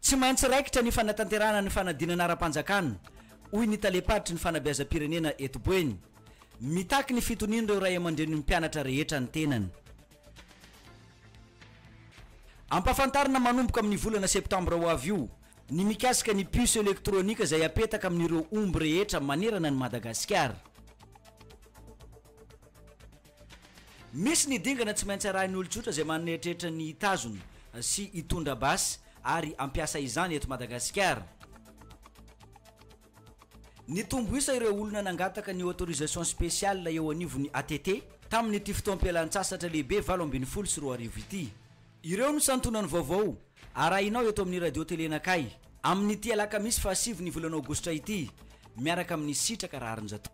Tsy maintsy raikitra ny fanatanterahana ny fanadinana ara-panjakana, hoy ny talem-paritry ny fanabeazam-pirenena eto Boeny. Mitaky ny fitonian'ireo ray aman-drenin'ny mpianatra rehetra ny tenany. Ampahafantarina manomboka amin'ny volana septambra ho avy io ny mikasika ny puce elektronika izay hapetaka amin'ireo omby rehetra manerana an'i Madagasikara. Misy ny dingana tsy maintsy arahin'ny olon-tsotra izay manana eritreritra ny hitazona sy hitondra basy ary hampiasa izany eto Madagasikara. Nitombo isa ireo olona nangataka ny autorisation spéciale eo anivon'ny ATT tamin'ity fotoam-pialan-tsasatra lehibe valo ambin'ny folo sy roa arivo ity. Ireo no santionany vaovao arahinao eto amin'ny Radio Télé Nakay amin'ity alakamisy faha sivy ny volana aogositra ity miaraka amin'i Sitraka Raharinjato.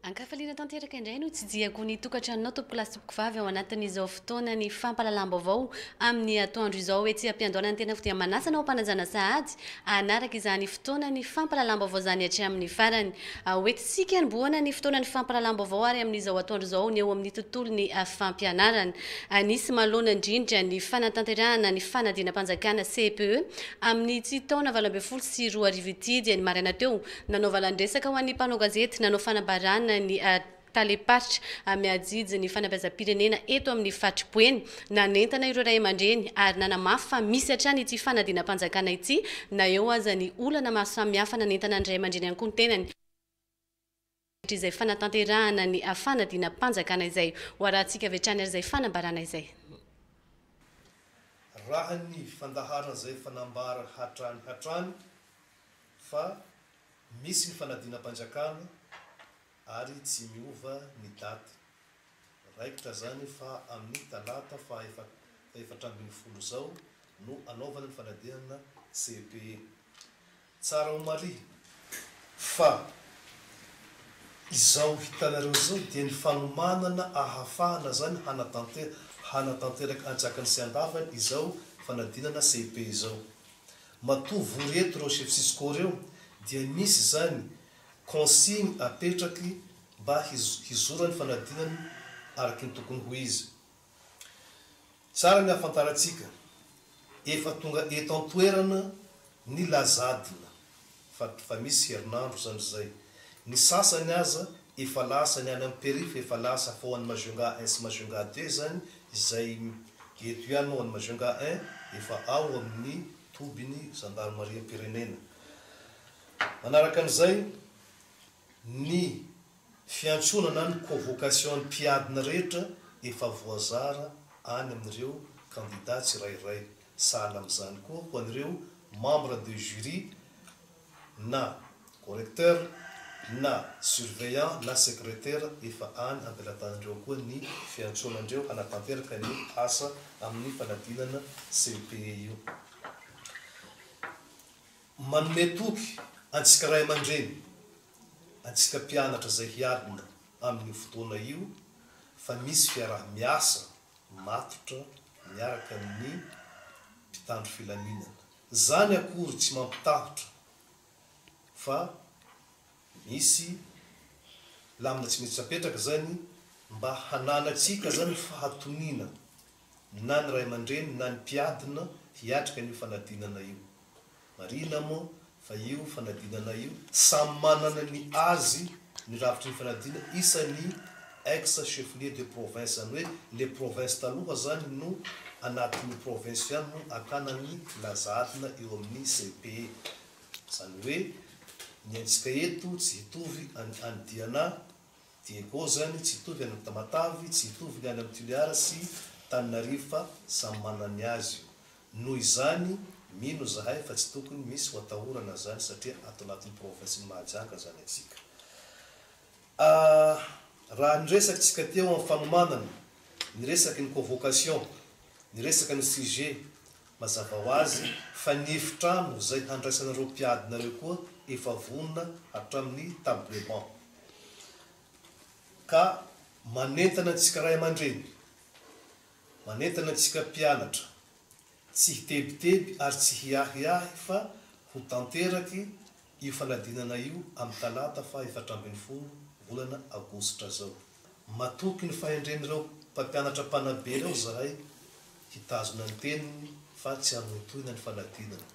Ankafaliana tanteraka indray no tsidihako ny tokantranonao tompoko lahy sy tompoko vavy ao anatin'izao fotoana ny fampahalalam-baovao amin'ny atoandro izao etsy am-piandohana ny tenako dia manasa anao mpanajana sahady hanaraka izany fotoana ny fampahalalam-baovao izany hatramin'ny farany ho entintsika nibohana ny fotoana ny fampahalalam-baovao ary amin'izao atoandro izao ny eo amin'ny tontolon'ny fampianarana anisy malona indrindra ny fanatanterahana ny fanadinam-panjakana CPE amin'ny tsy taona valo ambin'ny folo sy roa arivo ity dia ny maraina teo Nanao valan-dresaka ho an'ny mpanao gazety nanao fanambarana ny talem-paritra mihajiajy ny fanabeazam-pirenena eto amin'ny faritry Boeny. Nanentana ireo ray aman-dreny ary nanamafy fa misy hatrany ity fanadinam-panjakana ity na eo aza ny olana maro samihafa nanentana ny ray aman-dreny ankohontenany. Satria izay fanatanterahana ny fanadinam-panjakana izay. Ho arahantsika avy hatrany ary izay fanambarana izay. Raha ny fandaharana izay efa nambara hatrany hatrany fa misy ny fanadinam-panjakana ary tsy miova ny daty. Raikitra izany fa amin'ny talata faha-efatra ambin'ny folo izao no anaovana ny fanadihana CEPE. Tsara ho marihina fa izao hitanareo izao dia ny fanomanana ahafahana izany hanatanteraka antsakany sy andavany izao fanadinana CEP izao. Matoa vory eto ireo chef cisco ireo dia misy izany consigne apetraky mba hizorany fanadinana araky ny tokony ho izy. Tsara ny ahafantarantsika, efa tonga eto an-toerana ny lazadina, fa fa misy herinandro izany izay. Ny sasany aza efa lasa, ny any amin'ny periph efa lasa, fa ho an'ny Majunga un sy Majunga deux izany, izay eto ihany ho an'ny Majunga un, efa ao amin'ny tobin'ny zandarimariam-pirenena. Manaraka an'izay, ny. Fiantsoana na ny convocation ny mpiadina rehetra efa voazara any amin'ireo kandida tsirairay. Sahala amin'izany koa ho an'ireo membre de jury na correcteur na surveillant na secretaire efa any am-pelatanan'ireo koa ny fiantsoana andreo hanatanteraka ny asa amin'ny fanadinana CEPE io. Manome toky antsika ray aman-dreny. antsika mpianatra izay hiadina amin'io fotoana io fa misy fiaraha-miasa matotra miaraka amin'ny mpitandro filaminana. Izany akory tsy mampitahotra fa misy lamina tsy maintsy apetraka izany mba hananantsika izany ny fahatoniana na ny ray aman-dreny na ny mpiadina hiatrika an'io fanadinana io. Marihina moa fa io fanadinana io, samy manana ny azy ny rafitry ny fanadinana isan'ny ex cheflier de province, izany hoe le province taloha izany no anatin'ny province ihany no antanan'ny filaza adina eo amin'ny CEPE. Izany hoe ny antsika eto tsy hitovy an'i Andiana. Diego zany tsy hitovy any am Tamatave, tsy hitovy ny any am Tuliara sy Taninarivo fa samy manana ny azy io. Noho izany mino zahay fa tsy tokony misy ho atahorana zany satria ato anatin'ny province ny Mahajanga zany atsika. A raha ny resaky tsika teo am fanomanana, ny resaky ny convocation, ny resaka ny sujet, Mazava ho azy fa ny efitrano izay handraisanareo mpiadinareo koa efa vonona hatramin'ny table banc. Ka manentana antsika ray aman-dreny, manentana antsika mpianatra, tsy hitebiteby ary tsy hiahiahy fa ho tanteraky io fanadinana io amin'ny talata faha efatra ambin'ny folo volana aogositra izao. Matoky ny fahendren'ireo mpampianatra mpanabe ireo izahay hitazona ny teniny fa tsy hanohintohina ny fanadinana.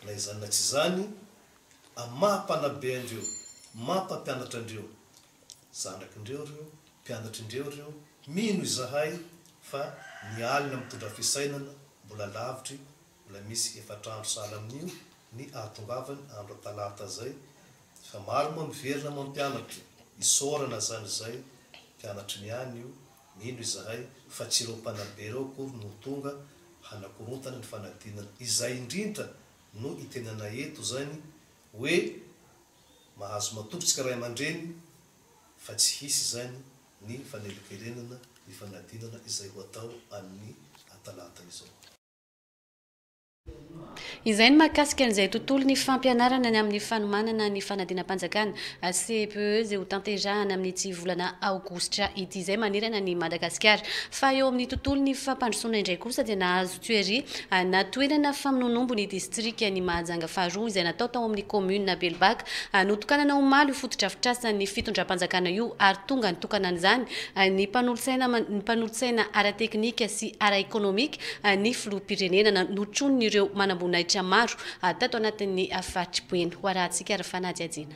Na izany na tsy izany, amin'ny maha mpanabe an-dreo maha mpampianatra an-dreo, zanak'in-dreo ireo, mpianatrin-dreo ireo, mino izahay fa ny alina mitondra fisainana mbola lavitry Mbola misy efatra andro sahala amin'io ny hahatongavany andro talata izay fa maro moa miverina mampianatra, isaorana izany izay mpianatry ny any io, mino izahay fa tsy ireo mpanabe ireo akory no ho tonga hanakorontana ny fanadinana, izay indrindra no itenenanay eto izany hoe mahazo matoky isika ray aman-dreny fa tsy hisy izany ny fanelinkelenana ny fanadinana izay ho atao an'ny atalata izao. Izay ny mahakasika an'izay tontolo ny fampianarana ny amin'ny fanomanana ny fanadinam-panjakana, CEPE, izay ho tanterahana amin'ity volana aogositra ity izay manerana an'i Madagasikara. Fa eo amin'ny tontolon'ny fampandrosoana indray kosa dia nahazo tuerie na toerana famonoanombo ny distrikan'i Mahajanga faharoa izay natao tao amin'ny kaominina Belobaka. Notokanana omaly io fotodrafitrasan'ny fitondram-panjakana io ary tonga nitokana an'izany ny mpanolotsaina ny mpanolotsaina ara-teknika sy ara-ekonomika ny filoham-pirenena na notronon'ireo manamboninahitra maro tato anatin'ny faritry Boeny. Ho arahantsika ary fanadihadiana.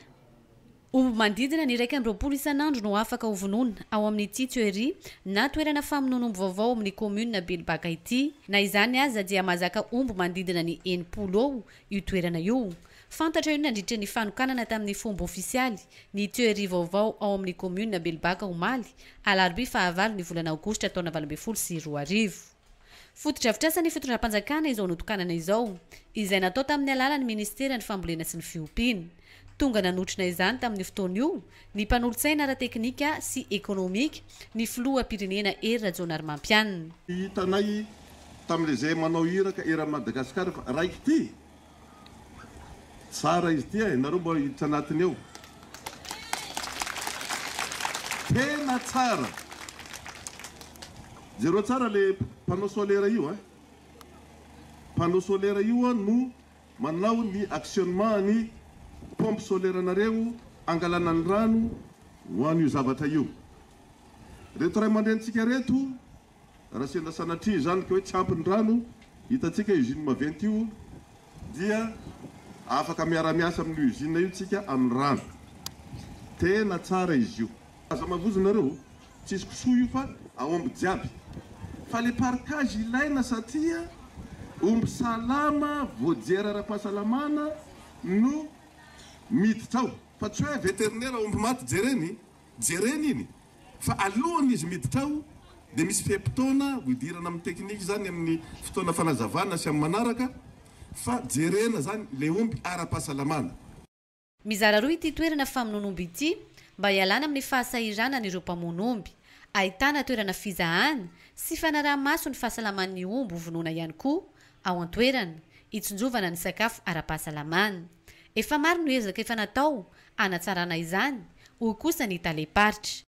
Omby manodidina ny iraika amby roapolo isan'andro no afaka hovonoina ao amin'ity tuerie na toerana famonoan'omby vaovao ao amin'ny kaominina Belobaka ity. Na izany aza dia mahazaka omby manodidina ny enimpolo eo Io toerana io. Fantatra io nandritra ny fanokanana tamin'ny fomba ofisialy ny tuerie vaovao ao amin'ny kaominina Belobaka omaly alarobia fahavalo ny volana aogositra taona valo ambin'ny folo sy roa arivo. Fotodrafitrasan'ny fitondram-panjakana izao notokanana izao, izay natao tamin'ny alalan'ny minisiteran'ny fambolena sy ny fiompiana. Tonga nanotrona izany tamin'io fotoana io ny mpanolotsaina ara-teknika sy ekonomika, ny filoham-pirenena Hery Rajaonarimampianina. Hitanay tamin'ilay izay manao iraka eran'i Madagasikara fa raiky ity. Tsara izy ity e! Nareo mba hiditra anatiny ao. Tena tsara! Jereo tsara ilay panneau solaire io a! Panneau solaire io no Manao ny actionnement ny pompes solaires nareo angalana ny rano ho an io zavatra io. Reto ray aman-drenintsika reto raha sendra sanatria izany ka hoe tsy ampy ny rano hitantsika usine maventy io dia afaka miara-miasa amin'io usine io tsika amin'ny rano. Tena tsara izy io. Aza mavozo nareo. Tsisy kisoa io fa aomby jiaby. Fa le parkage ilaina satria omby salama voajery ara-pahasalamana no miditra ao fa tsy hoe vétérinaire aomby maty jereny jereny iny fa alohan izy miditra ao dia misy fe-potoana ho idirana amin'ny technique zany amin'ny fotoana fanazavana sy amin'ny manaraka fa jerena zany le omby ara-pahasalamana. Mizara roa ity toerana famonoan'omby ity mba hialana amin'ny fahasahiranan'ireo mpamono omby. Ahitana toerana fizahana sy fanaraha-maso ny fahasalaman'ny omby hovonoina ihany koa ao an-toerana, hitsinjovana ny sakafo ara-pahasalamana. Efa maro no ezaka efa natao hanatsarana izany, hoy kosa ny talem-paritra.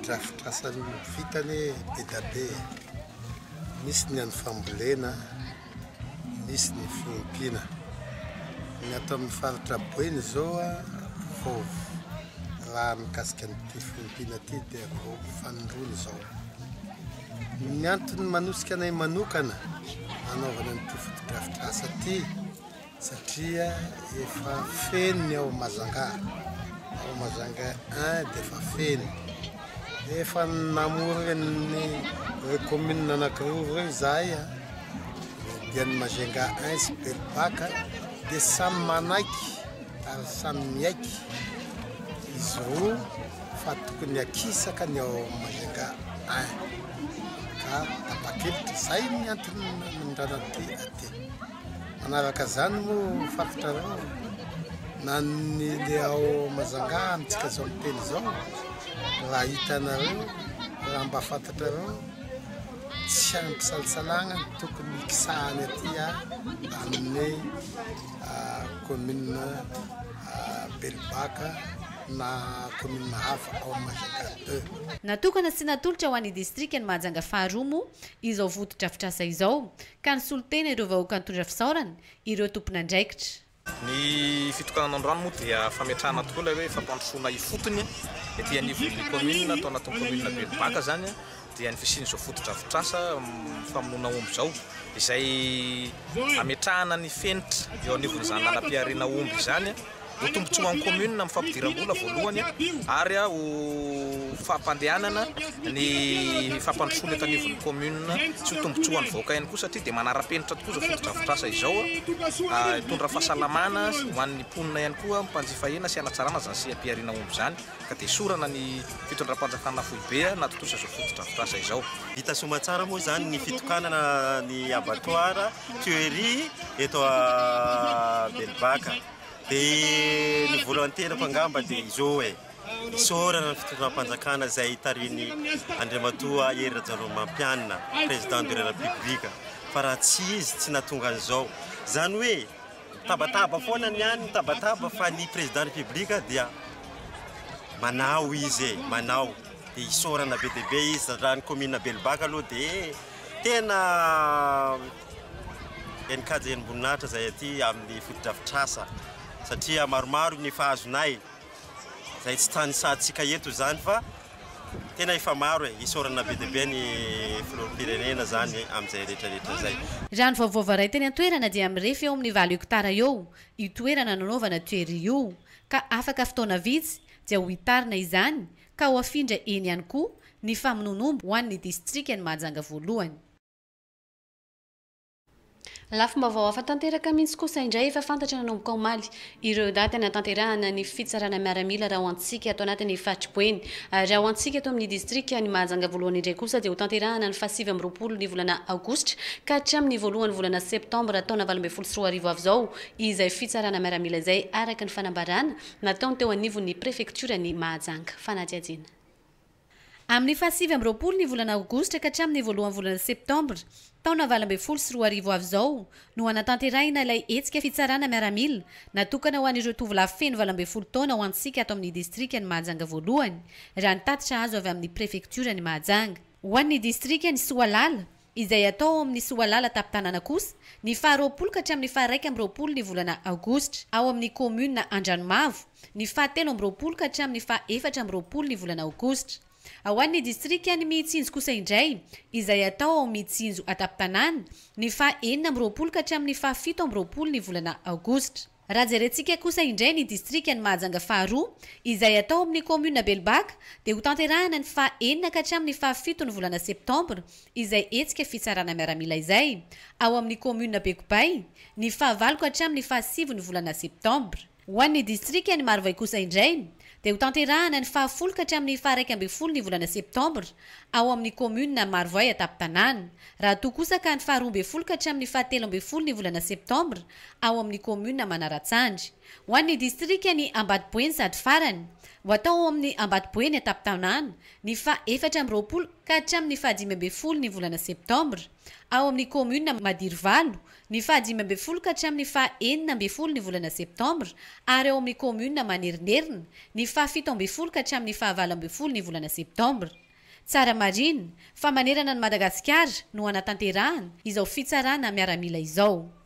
Fotodrafitrasany vita anie be da be e. Misy ny an'ny fambolena, misy ny fiompiana. Ny ato amin'ny faritra Boeny izao vao raha mikasika an'ity fiompiana ity dia vao fanindroany izao. Ny antony manosika anay manokana anaovana an'ity fotodrafitrasa ity Satria efa feno ny ao Majanga, ao Majanga un dia efa feno. Dia efa namorona ny ireo communes anankiroa ireo izahay, dia ny Majanga un sy Belobaka, dia samy manaiky ary samy miaiky izy roa fa tokony hakisaka ny ao Majanga un. Ka tapa-kevitra, izay ny antony nanondrana aty. Manaraka izany moa fantatrareo na ny le ao Mazangà amintsika izao miteny izao raha hitanareo raha mba fantatrareo tsy ampisalsalagna ny tokony hikisahany aty amin'ny commune Belobaka na commune hafa ao Majunga deux. Natokana sy natolotra ho an'ny distrikan'i Mahajanga faharoa moa izao fotodrafitrasa izao ka nisolo tena ireo vahoaka nitondra fisaorana ireo tompon'andraikitra. Ny fitokanana ny rano moa dia fametrahana tokoa ilay hoe fampandrosoana ifotony, ety anivon'ny kaominina, tao anatin'ny kaominina Belobaka izany, dia ny fisian'izao fotodrafitrasa famonoana omby izao, izay ametrahana ny fenitra eo anivon'izany lalam-pihariana omby izany. ho tombotsoan'ny commune amin'ny fampidiram-bola voalohany ary ho fampandehanana ny fampandrosoana eto anivon'ny commune sy ho tombotsoan'ny vahoaka ihany koa satria dia manara-penitra tokoa izao fotodrafitrasa izao, hitondra fahasalamana ho an'ny mponina ihany koa mpanjifa hena sy hanatsarana izany seha-pihariana omby izany ka dia esorana ny fitondram-panjakana foibe nahatontosa izao fotodrafitrasa izao. Hita soa aman-tsara moa izany ny fitokanana ny abattoir. tuerie eto à Belbaka de ny vola ateriko angamba de izao e isaorana ny fitondram-panjakana izay tarihin'ny Andriamatoa Hery Rajaonarimampianina président de la République fa raha tsy izy tsy nahatonga an'izao izany hoe mitabataba foana ny any mitabataba fa ny président république dia manao izy e manao dia isaorana be dia be izy raha ny commune Belbaka aloha dia Tena NKJNim-boninahitra izay aty amin'ny fotodrafitrasa satria maromaro ny efa azonay izay tsy tanisahantsika eto izany fa tena efa maro e! Isaorana be dia be ny Filoham-pirenena izany amin'izay rehetrarehetra izay. Raha ny vaovao varay teny an-toerana dia mirefy eo amin'ny valo hektara eo io toerana nanaovana tuerie io ka afaka fotoana vitsy dia ho hitarina izany ka ho afindra eny ihany koa ny famonoan'omby ho an'ny distrikan'i Mahajanga voalohany. Lafim-baovao hafa tanteraka mihitsy kosa indray efa fantatra nanomboka omaly, ireo daty hanatanterahana ny fitsarana miaramila raha ho antsika ato anatin'ny faritry Boeny, ary raha ho antsika eto amin'ny distrikan'i Mahajanga voalohany indray kosa dia hotanterahana ny fahasivy amby roapolo ny volana aogositra ka hatramin'ny voalohan'ny volana septambra taona valo ambin'ny folo sy roa arivo avy izao izay fitsarana miaramila izay araka ny fanambarana nataony teo anivon'ny prefektioran'i Mahajanga, fanadihadiana. Amin'ny fahasivy amby roapolo ny volana aogositra ka hatramin'ny voalohan'ny volana septambra, taona valo ambin'ny folo sy roa arivo avy izao no hanatanterahina ilay hetsika fitsarana miaramila natokana ho an'ireo tovolahy feno valo ambin'ny folo taona ho antsika ato amin'ny distrikan'i Mahajanga voalohany, raha ny tatitra azo avy amin'ny prefektioran'i Mahajanga. Ho an'ny distrikan'i Soalala, izay atao ao amin'ny Soalala Tapitanana kosa, ny faha roapolo ka hatramin'ny faha iraika amby roapolo ny volana aogositra, ao amin'ny kaominina Andranomavo, ny faha telo amby roapolo ka hatramin'ny faha efatra amby roapolo ny volana aogositra. Ao an'ny distrikan'i Mitsinjo kosa indray, izay atao ao Mitsinjo Atapitanana, ny faha enina amby roapolo ka hatramin'ny faha fito amby roapolo ny volana aogositra. Raha jerentsika kosa indray ny distrikan'i Mahajanga faharoa, izay atao amin'ny kaominina Belobaka, dia ho tanterahana ny faha enina ka hatramin'ny faha fito ny volana septambra izay hetsika fitsarana miaramila izay, ao amin'ny kaominina Bekopay, ny faha valo ka hatramin'ny faha sivy ny volana septambra. Ho an'ny distrikan'i Marovoay kosa indray, dia ho tanterahana ny faha folo ka hatramin'ny faha iraika ambin'ny folo ny volana septambra, ao amin'ny kaominina Marovoay an-tampon-tanàna, raha toa kosa ka ny faha roa ambin'ny folo ka hatramin'ny faha telo ambin'ny folo ny volana septambra, ao amin'ny kaominina Manaratsandry. Ho an'ny distrikan'i Ambatoboeny sady farany, ho atao ao amin'ny Ambatoboeny an-tapin-tanàna, ny faha efatra amby roapolo ka hatramin'ny faha dimy ambin'ny folo ny volana septambra, ao amin'ny kaominina Madirovalo, ny faha dimy ambin'ny folo ka hatramin'ny faha enina ambin'ny folo ny volana septambra, ary ao amin'ny kaominina Manerinerina, ny faha fito ambin'ny folo ka hatramin'ny faha valo ambin'ny folo ny volana septambra. Tsara marina fa manerana an'i Madagasikara no hanatanterahana izao fitsarana miaramila izao.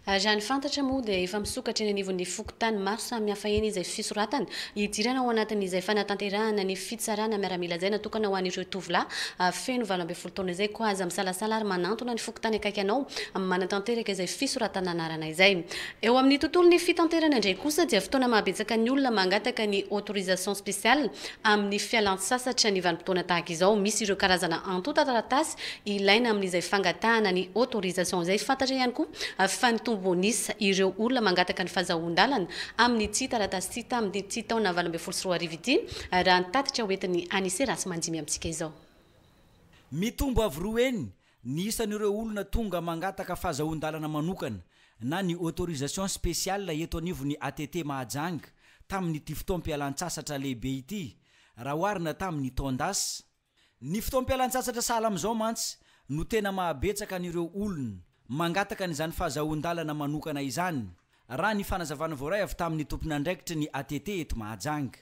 Raha ny fantatra moa dia efa misokatra eny anivon'ny fokontany maro samihafa eny izay fisoratana hidirana ao anatin'izay fanatanterahana ny fitsarana miaramila izay natokana ho an'ireo tovolahy feno valo ambin'ny folo taona izay. Koa aza misalasala ary manantona ny fokontany akaiky anao manatanteraka izay fisoratana anarana izay. Eo amin'ny tontolon'ny fitanterana indray kosa dia fotoana mahabetsaka ny olona mangataka ny autorisation spéciale amin'ny fialantsasatra ny vanim-potoana tahaka izao. Misy ireo karazana antontan-taratasy ilaina amin'izay fangatahana ny autorisation izay. Fantatra ihany koa fa nitombo an'isa ireo olona mangataka ny fahazahoan-dalana amin'ity taratasy ity tamin'ity taona valo ambin'ny folo sy roa arivo ity raha ny tatitra hoentin'ny Anise Ratsimanjimby amintsika izao. Mitombo avo roa heny Ny isan'ireo olona tonga mangataka fahazahoan-dalana manokana na ny autorisation spéciale eto anivon'ny ATT Mahajanga tamin'ity fotoam-pialan-tsasatra lehibe ity raha oharina tamin'ny taon-dasa. Ny fotoam-pialan-tsasatra sahala amin'izao mantsy no tena mahabetsaka an'ireo olona mangataka an'izany fahazahoan-dalana manokana izany, raha ny fanazavana voaray avy tamin'ny tompon'andraikitry ny ATT eto Mahajanga.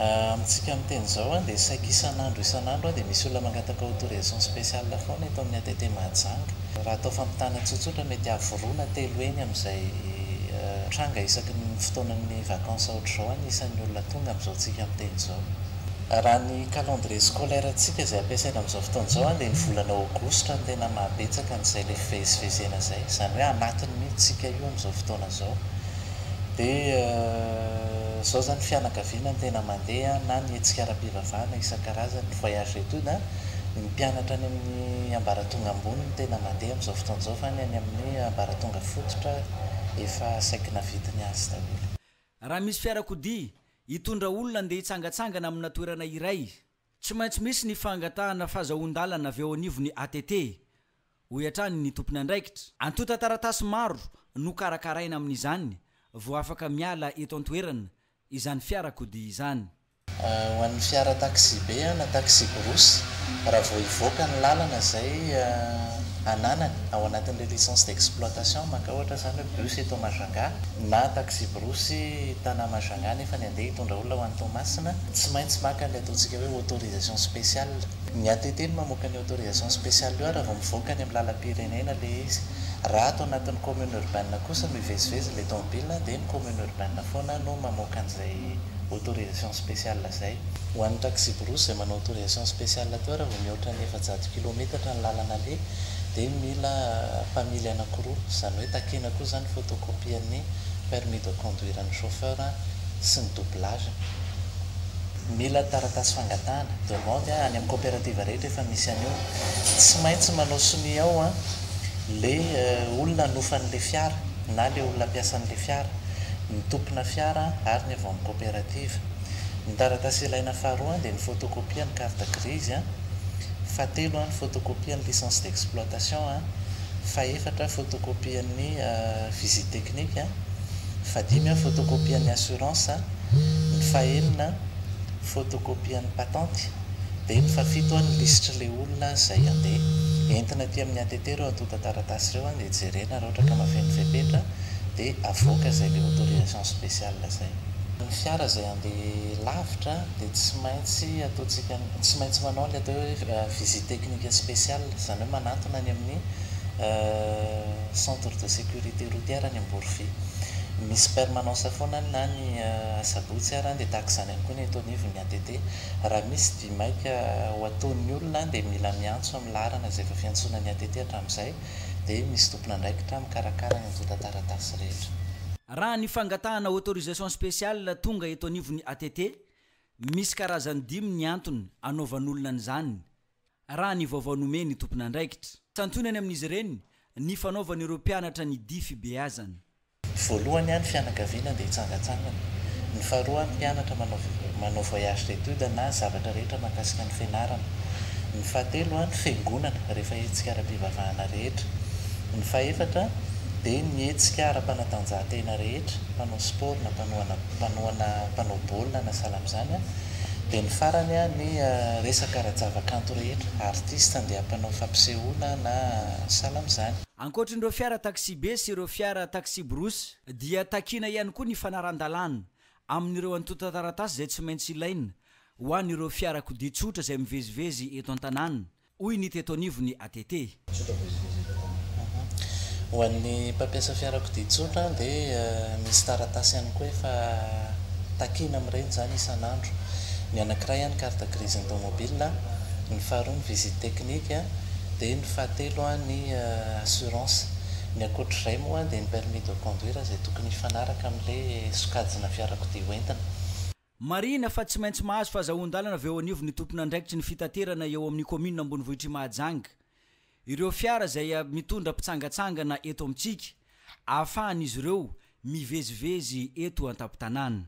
Amintsika miteny izao an, dia saiky isan'andro isan'andro an, dia misy olona mangataka autorisation spéciale foana eto amin'ny ATT Mahajanga. Raha atao fampitana tsotsotra, mety avo roa na telo heny amin'izay tranga isaky ny fotoanan'ny vacances ohatr'izao ny isan'ny olona tonga amin'izao tsika miteny izao. Raha ny calendrier scolaire ntsika izay ampiasaina amin'izao fotoana izao an, dia ny volana aogositra no tena maha betsaka an'izay ilay fivezivezena izay. Izany hoe anatiny mihitsy tsika io amin'izao fotoana izao. dia izao izany fianakaviana no tena mandeha na ny hetsika ara-pivavahana isan-karazany, voyage d'étude an, ny mpianatra any amin'ny ambaratonga ambony no tena mandeha amin'izao fotoana izao fa ny any amin'ny ambaratonga fototra efa saiky navity ny azy daholo. Raha misy fiarakodia hitondra olona handeha hitsangatsangana amina toerana iray Tsy maintsy misy ny fangatahana fazahoan-dalana avy eo anivon'ny ATT, hoy hatrany ny tompon'andraikitra. Antontan-taratasy maro no karakaraina amin'izany vao afaka miala eto an-toerana izany fiarakodia izany. Ho an'ny fiara taksibe na taxi-brousse, raha vao hivoaka ny lalana izay ananany ao anatin'ilay licence d'exploitation, maka ohatra izany hoe bus eto Majunga na taxi-brousse Tanà Majunga nefa ny andeha hitondra olona ho any Toamasina, Tsy maintsy maka an'ilay ataontsika hoe autorisation spéciale. Ny ATT no mamoaka ny autorisation spéciale io ary vao mivoaka any amin'ny lalam-pirenena ilay izy. Raha ato anatin'ny commune urbaine kosa no hivezivezy ilay tomobilina dia ny commune urbaine foana no mamoaka an'izay autorisation spéciale izay. Ho an'ny taxi-brousse izay manao autorisation spéciale teo raha vao mihoatra ny efajato kilometatra ny lalana aleha dia mila mpamily anankiroa, izany hoe takiana koa izany ny photocopie-n'ny permis de conduire-n'ny chauffeur sy ny doublage-ny. Mila taratasy fangatahana, demande, any amin'ny coopérative rehetra efa misy an'io. Tsy maintsy manao sonia ao ilay olona hanofa an'ilay fiara na ilay olona mpiasa an'ilay fiara, ny tompona fiara ary ny avy ao amin'ny coopérative. Ny taratasy ilaina faharoa dia ny photocopie ny carte grise, fahatelo ny photocopie ny licence d'exploitation, fahefatra photocopie ny visite technique, fahadimy photocopie ny assurance. ny fahenina photocopie ny patente dia ny fafito ny lisitry le olona zay ande entina aty amin'ny ATT reo antotan-taratasy reo dia jerena raha ohatra ka mahafeno fepetra dia avoaka zay le autorisation spéciale zay. Ny fiara zay ande lavitra dia tsy maintsy ataontsika tsy maintsy manao ny atao hoe visite technique spéciale izany hoe manantona any amin'ny centre de sécurité routière any Amborovy. Misy permanence foana ny na ny asabotsy ary dia tahaka izany ihany koa ny eto anivon' ny ATT. Raha misy dia maika ho ataon'ny olona dia mila miantso amin'ny laharana izay efa fiantsoana ny ATT hatramin'izay dia misy tompon'andraikitra mikarakara ny antontan-taratasy rehetra. Raha ny fangatahana autorisation spéciale tonga eto anivon'ny ATT, misy karazany dimy ny antony anaovan'olona an'izany, raha ny vaovao nomen'ny tompon'andraikitra. Santionany amin'izy ireny ny fanaovany ireo mpianatra ny dihy fibeazana. Voalohany any fianakaviana dia hitsangantsangana. Ny faharoa any mpianatra manao manao voyage d'étude na zavatra rehetra mahakasika ny fianarana. Ny fahatelo any fiangonana rehefa hetsika ara-pivavahana rehetra. Ny fahefatra dia ny hetsika ara-panatanjahantena rehetra, mpanao sport na mpanohana mpanao baolina na sahala amin'izany, Dia ny farany a ny resaka ara-javakanto rehetra, artiste handeha mpanao fampisehoana na sahala amin'izany. Ankoatrin'ireo fiara taksibe sy ireo fiara taksibrousse dia takiana ihany koa ny fanaran-dalàna amin'ireo antontan-taratasy izay tsy maintsy ilaina ho an'ireo fiarakodia tsotra izay mivezivezy eto an-tanàna hoy ny teto anivon'ny ATT. Ho an'ny mpampiasa fiarakodia tsotra dia misy taratasy ihany koa efa takiana amin'ireny izany isan'andro. Ny anankiray ihany carte grise automobile, ny faharoa ny visite technique dia ny fahatelo ny assurance. Ny ankoatr'izay moa dia ny permis de conduire izay tokony hifanaraka amin'ilay sokajina fiarakodia hoentina. Marihina fa tsy maintsy mahazo fahazahoan-dalana avy eo anivon'ny tompon'andraikitry ny fitaterana eo amin'ny kaominina ambonivohitr'i Mahajanga ireo fiara izay mitondra mpitsangatsangana eto amintsika ahafahan'izy ireo mivezivezy eto an-tampon-tanàna.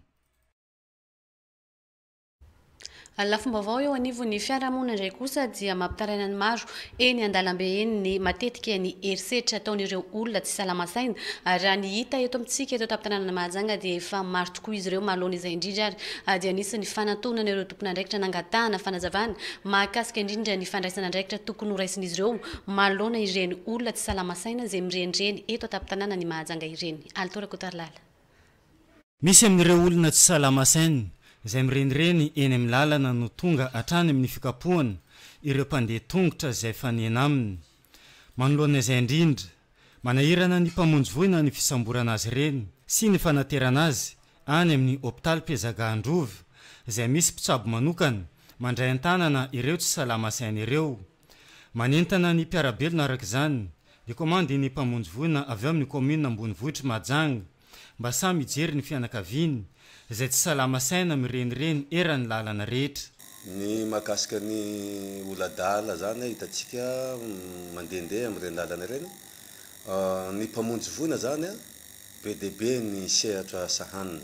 Ny lafim-baovao eo anivon'ny fiarahamonina indray kosa dia mampitaraina ny maro. Eny an-dalambe eny ny matetika ny herisetra ataon'ireo olona tsy salama saina ary raha ny hita eto amintsika eto an-tampon-tanànan'i Mahajanga dia efa maro tokoa izy ireo manoloana izay indrindra ary dia nisy ny fanantonana ireo tompon'andraikitra nangatahana fanazavana mahakasika indrindra ny fandraisana andraikitra tokony horaisin'izy ireo manoloana ireny olona tsy salama saina izay mirenireny eto an-tampon-tanànan'i Mahajanga ireny. Alito Rakotoarilaly. Misy amin'ireo olona tsy salama saina izay mirenireny eny amin'ny lalana no tonga hatrany amin'ny fikapohana ireo mpandeha tongotra izay fanena aminy. Manoloana izay indrindra, manahirana ny mpamonjy voina ny fisamborana azy ireny sy ny fanaterana azy any amin'ny hopitaly Pezaga Androva izay misy mpitsabo manokana mandray an-tanana ireo tsy salama saina ireo. Manentana ny mpiara-belona araka izany ny komandin'ny mpamonjy voina avy ao amin'ny kaominina ambonivohitr'i Mahajanga, Mba samy hijery ny fianakaviany izay tsy salama saina mirenireny eran'ny lalana rehetra. Ny mahakasika ny oladahala zany a hitantsika mandehandeha amin'ireny lalana ireny ny mpamonjy voina zany a be dia be ny sehatra sahaniny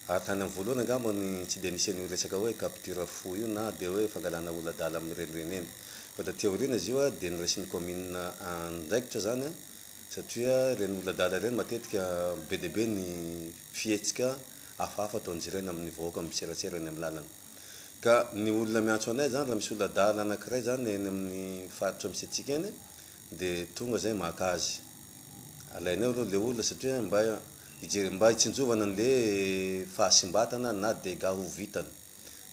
ary tany amin'ny voalohany angamba ny tsy dia nisy an'io resaka hoe capture fou io na dia hoe fangalana oladahala amin'ny renireny eny fa taty aoriana izy io a dia noraisin'ny commune andraikitra zany a satria ireny olona adala ireny matetika be dia be ny fihetsika hafahafa ataon'izy ireny amin'ny vahoaka miserasera eny amin'ny lalana. Ka ny olona miantso anay izany raha misy olona adala anankiray izany eny amin'ny faritra misy antsika eny dia tonga izay maka azy. Alainay aloha ilay olona satria mba hijery, mba hitsinjovana an'ilay fahasimbatana na dégâts ho vitany.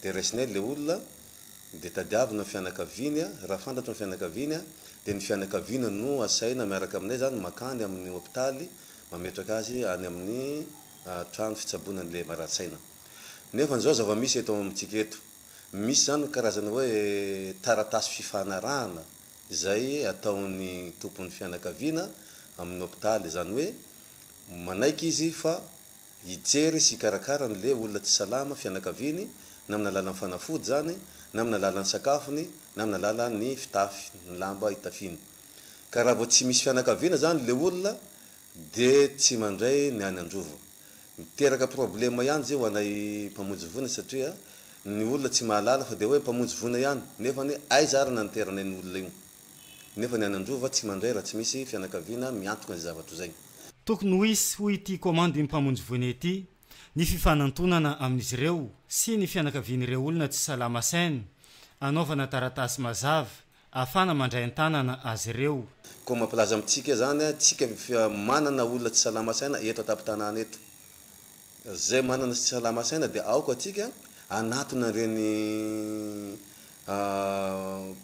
dia raisiny eny ilay olona, dia tadiavina ny fianakaviany, raha fantatro ny fianakaviany, dia ny fianakaviana no asaina miaraka aminay izany makany amin'ny hopitaly mametraka azy any amin'ny trano fitsaboana ny lehibara-tsaina. Nefa izao zava-misy eto amintsika eto, misy izany karazana hoe taratasy fifanarahana izay ataon'ny tompon'ny fianakaviana amin'ny hopitaly, izany hoe manaiky izy fa hijery sy hikarakara ny le olona tsy salama, fianakaviany, na amin'ny alalan'ny fanafody izany, na amin'ny alalan'ny sakafony, na amin'ny alalan'ny fitafy, ny lamba itafiany. Ka raha vao tsy misy fianakaviana izany le olona dia tsy mandray ny any an-drova. Miteraka problema ihany izay ho anay mpamonjy voina satria ny olona tsy mahalala fa dia hoe mpamonjy voina ihany, nefa anie aiza ary naniteranay iny olona io. Nefa ny any Anjova tsy mandray raha tsy misy fianakaviana miantoka izay zava-toa izay. Tokony ho hisy, hoy ity Komandy Mpamonjy Voina ity, ny fifanantonana amin'izy ireo sy ny fianakavian'ireo olona tsy salama sain, anaovana taratasy mazava afana mandray an-tanana azy ireo. Koa mampilaza amintsika izany tsika fa manana olona tsy salama saina eto an-tampon-tanàna eto. Izay manana sy tsy salama saina dia aoka antsika hanatona an'ireny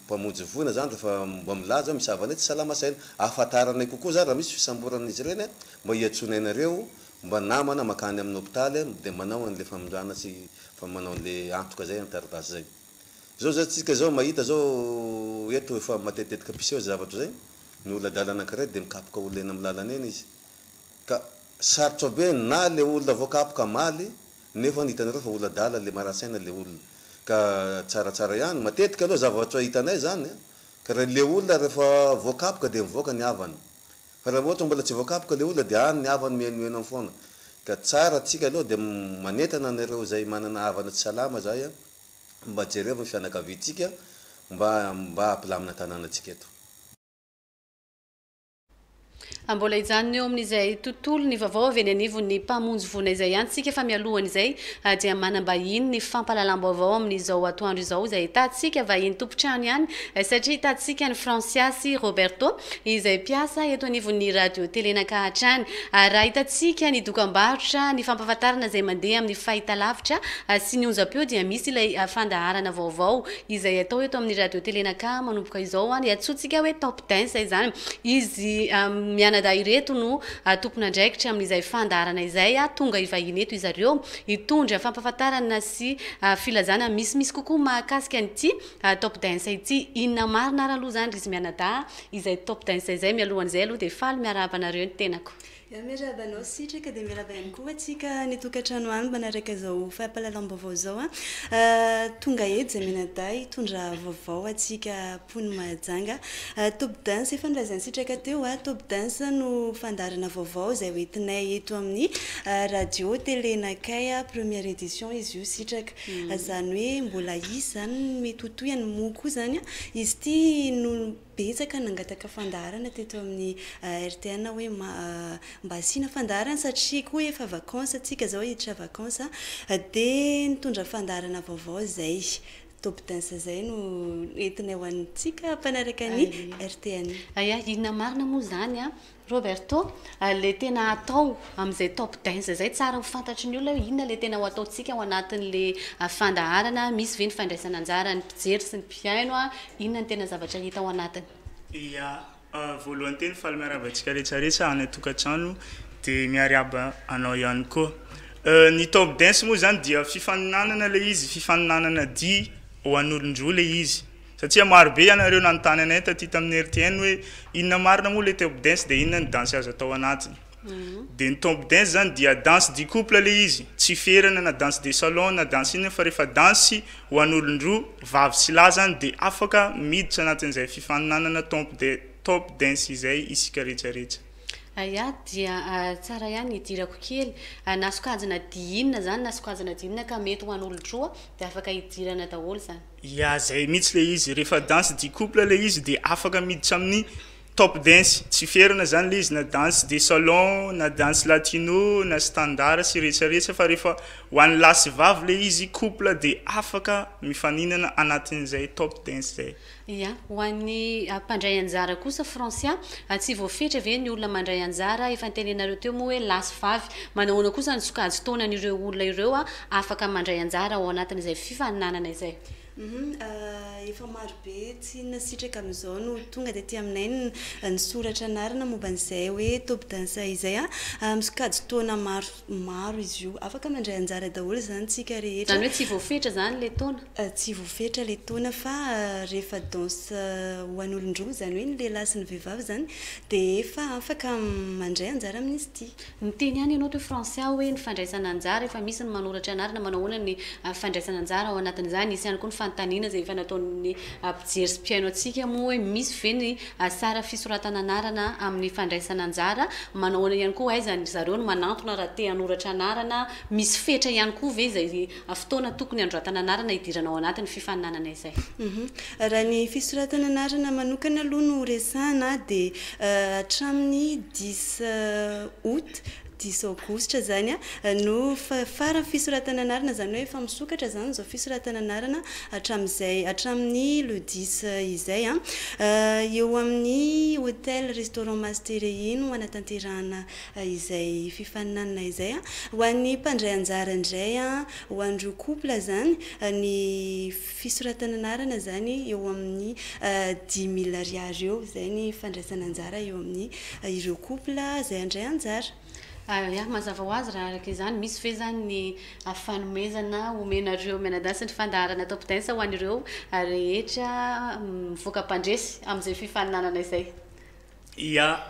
mpamonjy voina izany rehefa mba milaza hoe misava anay tsy salama saina. Ahafantaranay kokoa izany raha misy fisamboran'izy ireny mba hiantsoanay anareo mba namana mankany amin'ny hopitaly dia manao an'ilay famindrana sy manao an'ilay antoka izay amin'ny taratasy izay. Izao izao tsika izao mahita izao eto efa matetitetika mpiseho izay zavatra izay, ny olona adala anankiray dia mikapoka olona eny amin'ny lalana eny izy, Ka sarotra be na le olona vo kapoka maly nefa hitanareo fa olona adala le maratsaina le olona ka tsaratsara ihany matetika aloha zavatra hitanay zany a ka ra le olona refa vo kapoka de mivoaka ny havany fa ra ohatra mbola tsy vo kapoka le olona de any ny havany mihenoheno fona ka tsara tsika aloha de manentana anareo zay manana havana tsy salama zay a mba jerevo ny fianakaviantsika mba mba ampilamina tananatsika eto. Mbola hijanona eo amin'izay tontolon'ny vaovao avy eny anivon'ny Mpamonjy voina izay ihany isika fa mialohan'izay dia manam-bahiny ny fampahalalam-baovao amin'izao atoandro izao izay hitantsika vahiny tompon-trano ihany satria hitantsika an'i Fransiasy Roberto izay mpiasa eto anivon'ny Radio Telenaka hatrany ary raha hitantsika ny dokam-barotra ny fampahafantarana izay mandeha amin'ny fahitalavitra sy ny onjam-peo dia misy ilay fandaharana vaovao izay atao eto amin'ny radio tele na ka manomboka izao hoany iantsoantsika hoe top dance izany izy mianadahy ireto no tompon'andraikitra amin'izay fandaharana izay tonga hivahiny eto izy ireo hitondra fampahafantarana sy filazana misimisy kokoa mahakasika an'ity top dance ity inona marina ary aloha izany ry izy mianadahy izay top dance izay mialohan'izay aloha dia faly miarahaba anareo ny tenako Ya miarahaba anao Sitraka dia miarahaba ihany koa antsika any an-tokantrano any manaraka izao fampahalalam-baovao izao an! Tonga eto izay mianadahy hitondra vaovao antsika mponin'i Mahajanga. Top Dance efa nolazain'i Sitraka teo an! Top Dance no fandaharana vaovao izay hoentinay eto amin'ny radio tele nakay an! Première édition izy io Sitraka. Izany hoe mbola hisy izany ny mety ho tohiny moa koa izany an! Izy ity no betsaka nangataka fandaharana teto amin'ny RTN hoe mba asiana fandaharana satria koa efa vacances antsika zao hiditra vacances dia nitondra fandaharana vaovao izay top dance izay no entinay ho antsika mpanaraka ny RTN. Aya inona marina moa izany an? Roberto, le tena atao amin'izay top dance izay tsara ho fantatry ny olona hoe inona le tena ho ataontsika ao anatin'le fandaharana, misy ve ny fandraisana anjaran'ny mpijery sy ny mpihaino, inona ny tena zavatra hita ao anatiny? Ia, voalohany teny faly miarahaba antsika rehetrarehetra any an-tokantrano dia miariaba anao ihany koa. Ny top dance moa izany dia fifaninanana ilay izy, fifaninanana dihy ho an'olon-droa ilay izy. Satria maro be ianareo nanontany anay taty tamin'ny RTN hoe inona marina moa ilay top dance dia inona ny danse azo atao anatiny. Dia ny top dance izany dia danse du couple ilay izy, tsy ferana na danse de salon na danse inona fa rehefa danse ho an'olon-droa, vavy sy lahy izany dia afaka miditra anatin'izay fifaninanana tomp de top dance izay isika rehetra rehetra. Aya, dia tsara ihany ny hidirako kely. Na sokajina dihy inona izany na sokajina dihy inona ka mety ho an'olon-droa dia afaka hidirana daholo izany. Ya zay mitsy le izy refa danse du couple le izy de afaka miditra aminy top dance tsy ferana zany le izy na danse de salon na danse latino na standard sy rehetsa rehetsa fa refa ho any lahy sy vavy le izy couple de afaka mifaninana anatiny zay top dance zay. Ya ho any mpandray anjara kosa Francia a tsy voafetra ve ny olona mandray anjara efa nitenenareo teo moa hoe lahy sy vavy manahoana kosa ny sokajy taonany ireo olona ireo a afaka mandray anjara ao anatin'izay fifaninanana izay. Efa marobe tsy nasitraka amin'izao no tonga taty aminay nisoratra anarana momba an'izay hoe Top Dance izay. Misokajy taona maromaro izy io. Afaka mandray anjara daholo izany isika rehetra. Izany hoe tsy voafetra izany ilay taona? Tsy voafetra ilay taona fa rehefa danse ho an'olon-droa, izany hoe ny lehilahy sy ny vehivavy izany dia efa afaka mandray anjara amin'izy ity. Miteny ihany ianao toy français aho hoe ny fandraisana anjara efa misy ny manoratra anarana manao ahoana ny fandraisana anjara ao anatin'izany? Hisy ihany koa ny fanontaniana izay efa nataon'ny mpijery sy mpihaino antsika moa hoe misy ve ny sara fisoratana anarana amin'ny fandraisana anjara? Manao ahoana ihany koa aiza ry zareo no manantona raha te hanoratra anarana? Misy fetra ihany koa ve izay fotoana tokony handroatana anarana hidirana ao anatin'ny fifaninanana izay. Raha ny fisoratana anarana manokana aloha no resahana dia hatramin'ny dix aout, dix aogositra izany no faran'ny fisoratana anarana, izany hoe efa misokatra izany izao fisoratana anarana hatramin'izay hatramin'ny le dix izay. Eo amin'ny hotel restaurant Master iny no hanatanterahana izay fifaninanana izay an! ho an'ny mpandray anjara indray an! ho an'ireo couple izany ny fisoratana anarana izany eo amin'ny dix mille ariary eo izay ny fandraisana anjara eo amin'ny ireo couple izay handray anjara. Ary mazava ho azy raha araka izany misy ve izany ny fanomezana omenareo mianadahy sy ny fandaharana top dance ho an'ireo rehetra mivoaka mpandresy amin'izay fifaninanana izay? Ia!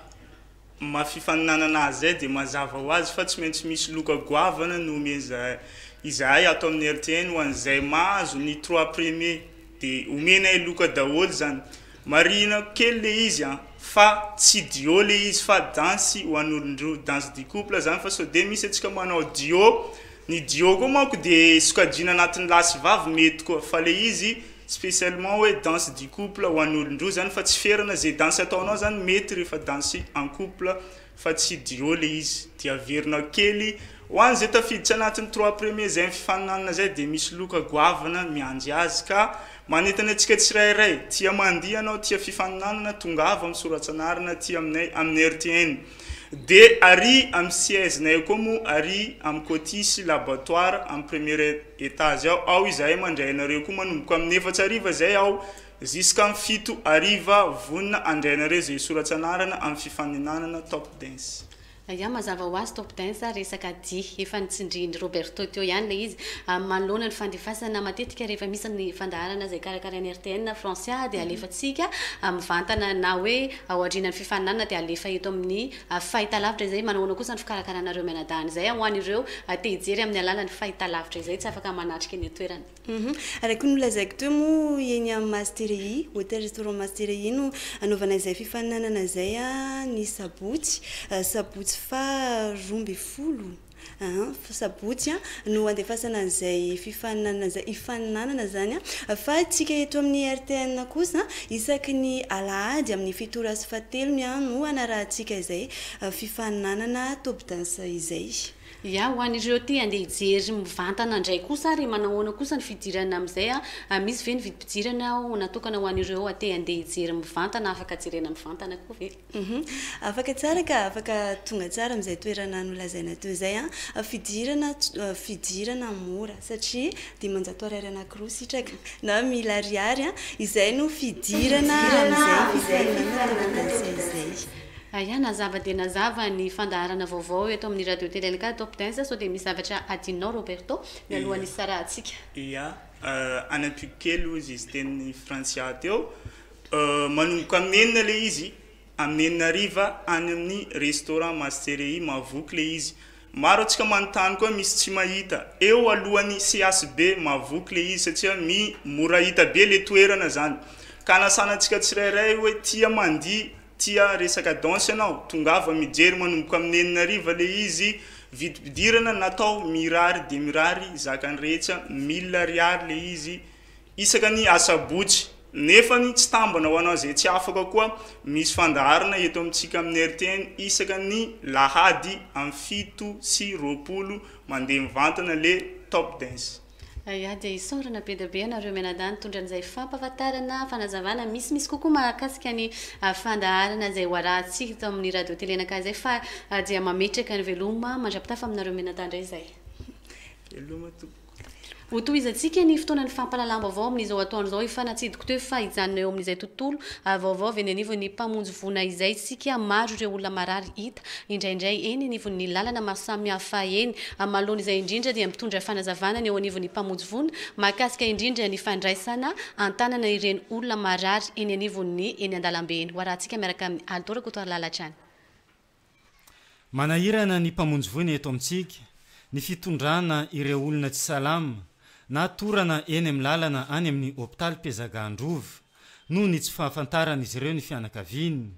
Mafy faninanana azay dia mazava ho azy fa tsy maintsy misy loka goavana no omeza izahay ato amin'ny RTN ho an'izay mahazo ny trois premier dia omenay loka daholo zany marihina kely le izy an fa tsy duo le izy fa danse ho an'olondroa danse du couple zany fa sao dia misy antsika manao duo ny duo koa manko dia sokajiana anatin'ny lahy sy vavy mety koa fa le izy Spécialement hoe danse du couple ho an'olon-droa zany fa tsy ferana, ze danse ataonao zany mety rehefa danse en couple fa tsy duo le izy, de averinao kely, ho an'izay tafiditra anatin'ny trois premiers zay mifaninanana zay de misy loka goavana miandry azy ka manentana antsika tsirairay, tia mandihy ianao, tia fifaninanana, tongava misoratsa anarana aty aminay amin'ny RTN. De ary am siège nay koa mo ary am côty sy laboratoire am premier etage ao ao izahay mandray anareo koa manomboka aminy efatra hariva zay aho ziskam fito hariva vonona andray anareo zay soratsa anarana am fifaninanana top dance. Ya mazava ho azy top dance resaka dihy efa nitsindrihin'i Roberto teo ihany ilay izy manoloana ny fandefasana matetika rehefa misy ny fandaharana izay karakarain'ny RTN Francia dia alefatsika mivantana na hoe Ao aorianan'ny fifaninanana dia halefa eto amin'ny fahitalavitra izay. Manao ahoana kosa ny fikarakarana ireo mianadahy an'izay ho an'ireo te hijery amin'ny alalan'ny fahitalavitra izay tsy afaka manatrika eny an-toerana? Araka ny nolazaiko teo moa, eny amin'ny Mastery Hotel Restaurant Mastery no hanaovana izay fifaninanana izay, ny sabotsy, sabotsy faha roa ambin'ny folo. An, sabotsy an, no handefasana an'izay fifaninanana izay hifaninanana izany an, fa isika eto amin'ny RTN kosa an, isaky ny alahady amin'ny fito ora sy fahatelony an, no hanarahantsika izay fifaninanana top dance izay. Ia, ho an'ireo te handeha hijery mivantana indray kosa ary manao ahoana kosa ny fidirana amin'izay an, misy ve ny vidim-pidirana natokana ho an'ireo te handeha hijery mivantana, afaka jerena mivantana koa ve? Humm. Afaka tsara ka afaka tonga tsara amin'izay toerana nolazaina teo izay an. Fidirana fidirana mora satria dimanjato ariary anankiroa sitraka na mille ariary an. Izay no fidirana amin'izay fifaninanana Topdance izay. Aya, nazava dia nazava ny fandaharana vaovao eto amin'ny Radio Tele Alika Top Dance, sao dia misy zavatra adinonao Roberto mialohan'ny hisarahantsika. Ia, any Antokely hozy izy teny Frantsia teo. Manomboka amin'ny enina ilay izy, amin'ny enina hariva any amin'ny restaurant Masterehi Mahavoky ilay izy. Maro antsika manontany koa misy tsy mahita. Eo alohan'ny CHB Mahavoky ilay izy satria mi mora hita be ilay toerana izany. Ka hanasana antsika tsirairay hoe tia mandihy, tia resaka danse ianao, tongava mijery manomboka amin'ny enina hariva ilay izy. Vidim-pidirana natao mirary dia mirary zakan'ny rehetra, mille ariary ilay izy. Isaka ny asabotsy. Nefany tsy tambana ho anao izay tsy afaka koa misy fandaharana eto amintsika amin'ny rtn isaka ny lahady am fito sy roapolo mandeha mivantana le top dance. Ayah dia isaorana be dia be anareo mianadahy nitondra an'izay fampahafantarana, fanazavana misimisy kokoa mahakasika ny fandaharana izay ho arahantsika eto amin'ny radio tele anakay izay fa dia mametraka ny veloma mandrapitafa aminareo mianadahy indray izay. Veloma tompoko. Hotohizantsika ny fotoanan'ny fampahalalam-baovao amin'izao atoandro izao efa natsidiko teo fa hijanona eo amin'izay tontolo vaovao avy eny anivon'ny Mpamonjy voina izay isika maro ireo olona marary hita indraindray eny anivon'ny lalana maro samihafa eny amaloany izay indrindra dia mitondra fanazavana ny eo anivon'ny Mpamonjy voina mahakasika indrindra ny fandraisana an-tanana ireny olona marary eny anivon'ny eny an-dalambe eny hoarahantsika miaraka amin'i Aldo Rakotoarilahy Latrany. Manahirana ny Mpamonjy voina eto amintsika ny fitondrana ireo olona tsy salama na torana eny amin'ny lalana any amin'ny hopitaly Pezaga Androva noho ny tsy fahafantaran'izy ireo ny fianakaviany.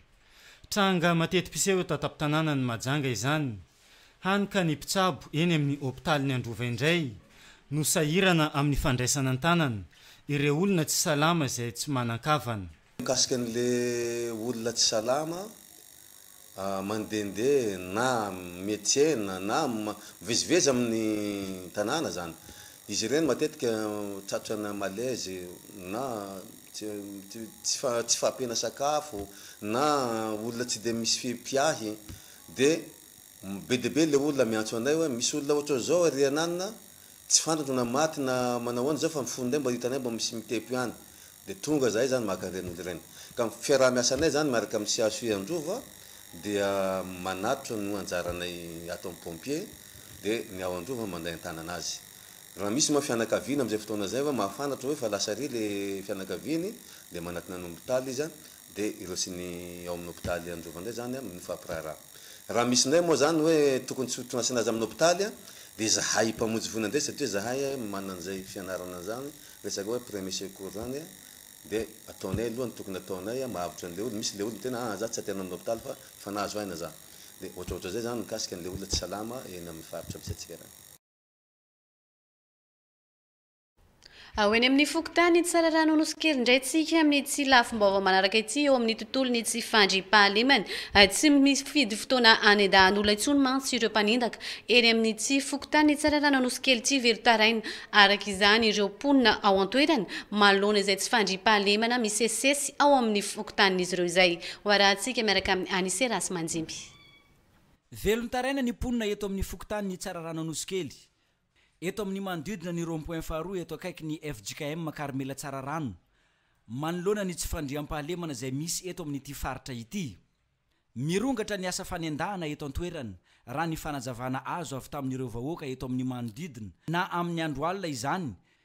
Tranga mateti-piseho eto an-tampon-tanànan'i Mahajanga izany, hany ka ny mpitsabo eny amin'ny hopitalin'i Androva indray no sahirana amin'ny fandraisana an-tanana ireo olona tsy salama izay tsy manan-kavana. Mikasika an'le olona tsy salama mandende na miatsena na mivezivezy amin'ny tanàna zany, izy ireny matetika tratra ana malaise na tsy fahampiana sakafo na olona tsy de misy mpiahy de be dia be le olona miantso anay hoe misy olona ohatran'izao ery ananona, Tsy fantako na maty na manao ahoana izao fa ny fon'ilay mba hitanay mba misy mitepo ihany. Dia tonga izahay izany maka an'ireny olona ireny. Ka ny fiaraha-miasanay izany miaraka amin'ny CHU Androva dia manatitra no anjaranay ato amin'ny pompier dia ny ao Androva manday an-tanana azy. Raha misy moa fianakaviany amin'izay fotoana izay hoe mahafantatra hoe efa lasa àry ilay fianakaviany dia manatona ny hopitaly izy Dia ireo sy ny ao amin'ny hopitaly Androva indray izany an, no hifampiraharaha. Raha misy indray moa izany hoe tokony tsy ho asiana azy amin'ny hopitaly an, dia izahay mpamonjy voina indray satria izahay manana an'izay fianarana an'izany, resaka hoe premier secours izany an, dia ataonay aloha ny tokony ataonay an, mahavotry an'ilay olona, misy ilay olona tena an, za tsy aterina amin'ny hopitaly fa efa nahazo aina za. Dia ohatraohatran'izay izany ny mikasika an'ilay olona tsy salama eny amin'ny faritra misy antsika ireny. Ao eny amin'ny fokontany Tsararano Nosy Kely indray tsika amin'ity lafim-baovao manaraka ity eo amin'ny tontolon'ny tsy fandriampahalemana. Tsy mifidy fotoana hanendahan'olona intsony mantsy ireo mpanendaka eny amin'ity fokontany Tsararano Nosy Kely ity velon-taraina araka izany ireo mponina ao an-toerana manoloana izay tsy fandriampahalemana misesisesy ao amin'ny fokontanin'izy ireo izay. Ho arahantsika miaraka amin'i Anise Rasimandimby. Velon-taraina ny mponina eto amin'ny fokontanin'i Tsararano Nosy Kely Eto amin'ny manodidina ny rond point faharoa eto akaikin'ny fjkm Karmela Tsararano, manoloana ny tsy fandriampahalemana izay misy eto amin'ity faritra ity. Mirongatra ny asa fanendahana eto an-toerana, raha ny fanazavana azo avy tamin'ireo vahoaka eto amin'ny manodidina, na amin'ny andro alina izany,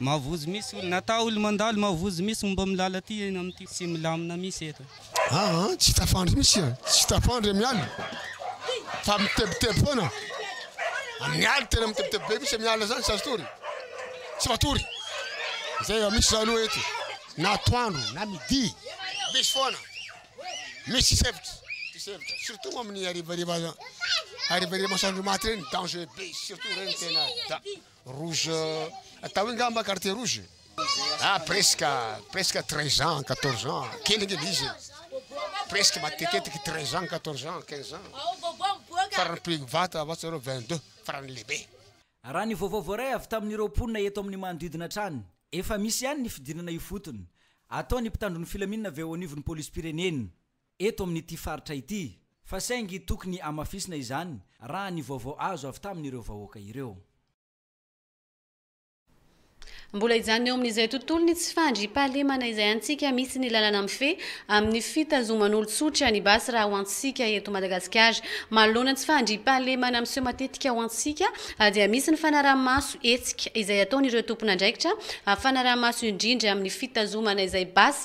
Mahavozo misy olona ata olo mandalo mahavozo misy momba milala ty eny am ty tsy milamina misy eto. Aa tsy tafandry misy a tsy tafandry am ala fa mitebiteby foana am ala tena mitebiteby be misy am ala zany tsy azo tory tsy matory zay va misy zany oa eto na atoandro na midi misy foana misy sefotry ty sefotry surtout moa am ny arivariva arivariva masoandro maty reny danger be surtout reny tena da Rouge atao hoe ngamba carte rouge ah presque presque treize ans quatorze ans kely angamba izy e presque matetetiky treize ans quatorze ans quinze ans farany prix vata avy atsy aloha vingt deux farany lehibe Raha ny vaovao voaray avy tamin'ireo mponina eto amin'ny manodidina hatrany, efa misy ihany ny fidirana ifotony. Atao ny mpitandro ny filaminana avy eo anivon'ny polisim-pirenena. eto amin'ity faritra ity, fa saingy tokony hamafisina izany raha ny vaovao azo avy tamin'ireo vahoaka ireo. Mbola hijanona eo amin'izay tontolon'ny tsy fandriampahalemana izay antsika misy ny lalàna mifehy amin'ny fitazoman'olon-tsotra ny basy raha ho antsika eto Madagasikara. Manoloana ny tsy fandriampahalemana miseho matetika ho antsika dia misy ny fanaraha-maso hetsika izay ataon'ireo tompon'andraikitra fanaraha-maso indrindra amin'ny fitazomana izay basy